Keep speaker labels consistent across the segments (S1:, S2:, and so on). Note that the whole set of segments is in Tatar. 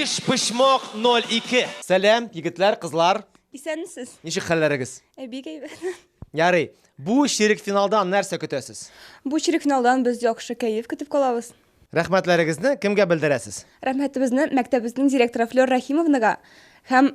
S1: Биш почмок 02. Сәлам, егетләр,
S2: кызлар. Исәнмесез. Ничек
S3: хәлләрегез?
S2: Ә бик әйбәт.
S3: Ярый.
S2: Бу чирек финалдан нәрсә көтәсез? Бу чирек финалдан
S3: без яхшы кәеф көтеп калабыз. Рәхмәтләрегезне
S2: кемгә белдерәсез? Рәхмәтебезне
S3: мәктәбебезнең директоры Флёр Рәхимовнага һәм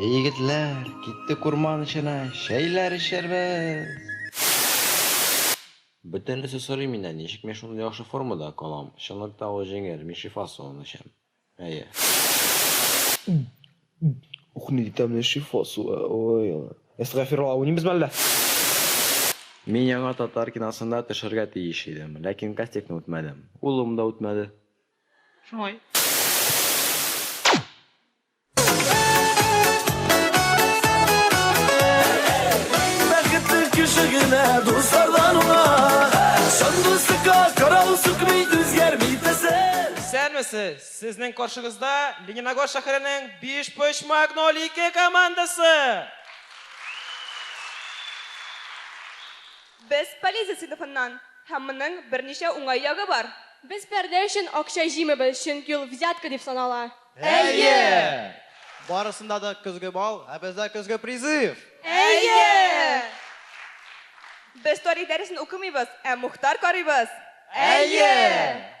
S4: Эй,
S5: егетләр, киттек урман эченә, чәйләр эчәрбез! Бөтенесе сорый миннән, ничек мин шундый яхшы формада калам? Чынлыкта ул җиңел, мин шифа суын эчәм. А я.
S6: Ух, не там не шифосу. Ой, ой. Эстафирла, у не без мәллә.
S5: Мин яңа татар киносында төшәргә тиеш идем, ләкин кастингны үтмәдем. Улым да үтмәде. Шулай. Бәхетле
S1: кеше генә дуслардан уңа. Чынлы сыка, карау сукмый, үзгәрми тәсел. Исәнмесез! Сезнең каршыгызда Лениногорск шәһәренең Бишпочмак ноль ике командасы!
S3: Без Полезия сыйныфыннан һәм моның берничә уңай ягы бар. Без пәрдә өчен
S7: акча җыймыйбыз, чөнки ул взятка дип санала. Әйе!
S1: Барысында
S8: да көзге бал, ә бездә көзге призыв! Әйе!
S3: Без тарих дәресен укымыйбыз, ә Мухтар карыйбыз. Әйе!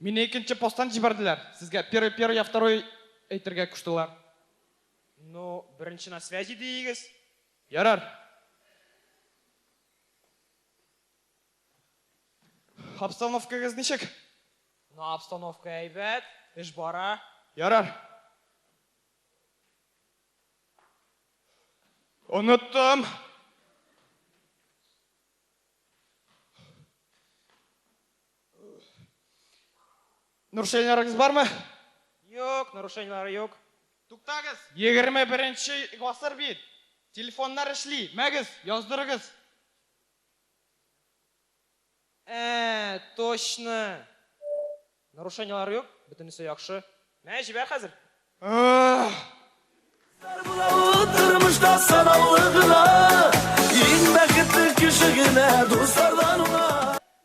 S1: Мине икенче посттан җибәрделәр. Сезгә первый, первый, я второй әйтергә куштылар. Ну, беренче на связи диегез. Ярар. Обстановкагыз ничек? Ну, обстановка әйбәт, эш бара. Ярар. Оныттым. Нуршәйләрегез бармы? Юк, нуршәйләре юк. Туктагыз, 21 нче гасыр бит. Телефоннар эшли, мәгез, яздырыгыз. Ә, точно. Нуршәйләре юк, бөтенесе яхшы. Мә, җибәр хәзер.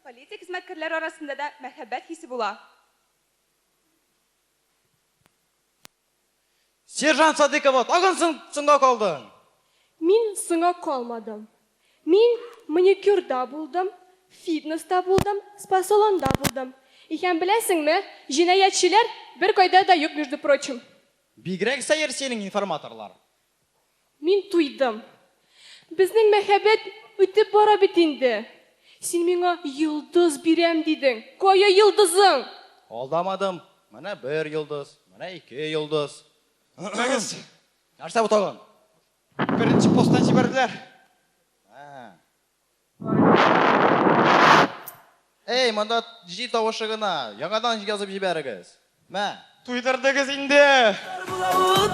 S9: Полиция хезмәткәрләре
S3: арасында да мәхәббәт хисе була.
S8: Сержант Садыйкова, тагын соң соңга калдың! Мин
S7: соңга калмадым. Мин маникюрда булдым, фитнеста булдым, спа-салонда булдым. Икән беләсеңме, җинаятьчеләр беркайда да юк между прочим. Бигрәк сәер
S8: синең информаторлар. Мин
S7: туйдым. Безнең мәхәббәт үтеп бара бит инде. Син миңа йолдыз бирәм дидең. Кая йолдызың? Алдамадым.
S8: Менә бер йолдыз, менә ике йолдыз. Туктагыз! Нәрсә бу тагын? Беренче
S1: постан җибәрделәр.
S8: Эй, монда җил тавышы гына. Яңадан язып җибәрегез. Мә. Туйдырдыгыз
S1: инде.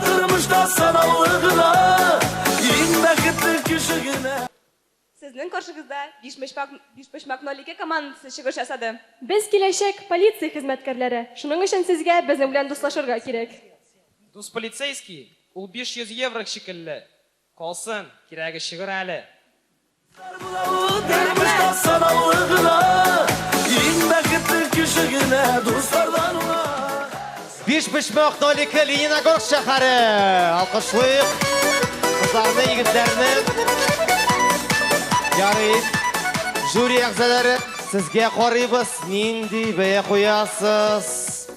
S1: Тормышта
S9: санаулы гына, иң бәхетле кеше генә. Сезнең
S3: каршыгызда Бишпочмак Бишпочмак ноль ике командасы чыгыш ясады. Без киләчәк
S7: полиция хезмәткәрләре, шуның өчен сезгә безнең белән дуслашырга кирәк. Дус
S1: полицейский, ул 500 еврог шикелле. Калсын, кирәге чыгыр әле. Бар була ул
S9: тормышта санаулы гына. Иң бәхетле кеше генә дуслардан уңа. Бишбочмак Нолике
S2: Лениногорск шәһәре. Алкышлыйк. Кызларны, егетләрне. Ярый. Жюри әгъзалары, сезгә карыйбыз. Нинди бәя куясыз?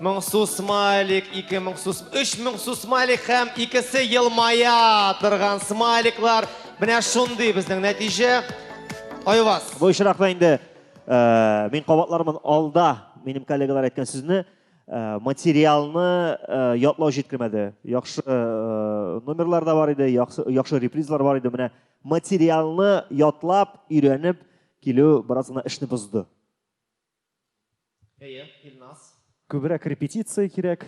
S2: 1000 су смайлик, 2000 су, 3000 су смайлик һәм икесе елмая торган смайликлар. Менә шундый безнең нәтиҗә. Айваз. Бу очракта инде
S10: Э, мин кабатлармын алда минем коллегалар әйткән сүзне э, материалны э, ятлау җиткермәде яхшы номерлар да бар иде яхшы репризлар бар иде менә материалны ятлап өйрәнеп килү бераз гына эшне бозды әйе
S2: илназ күбрәк
S11: репетиция кирәк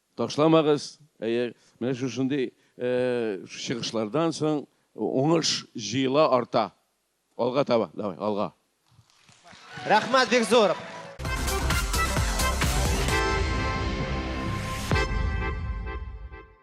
S12: Ташламагыз, әйе, менә шушындый чыгышлардан соң уңыш җыела арта.
S2: Алга
S12: таба, давай, алга.
S2: Рәхмәт
S12: бик зур.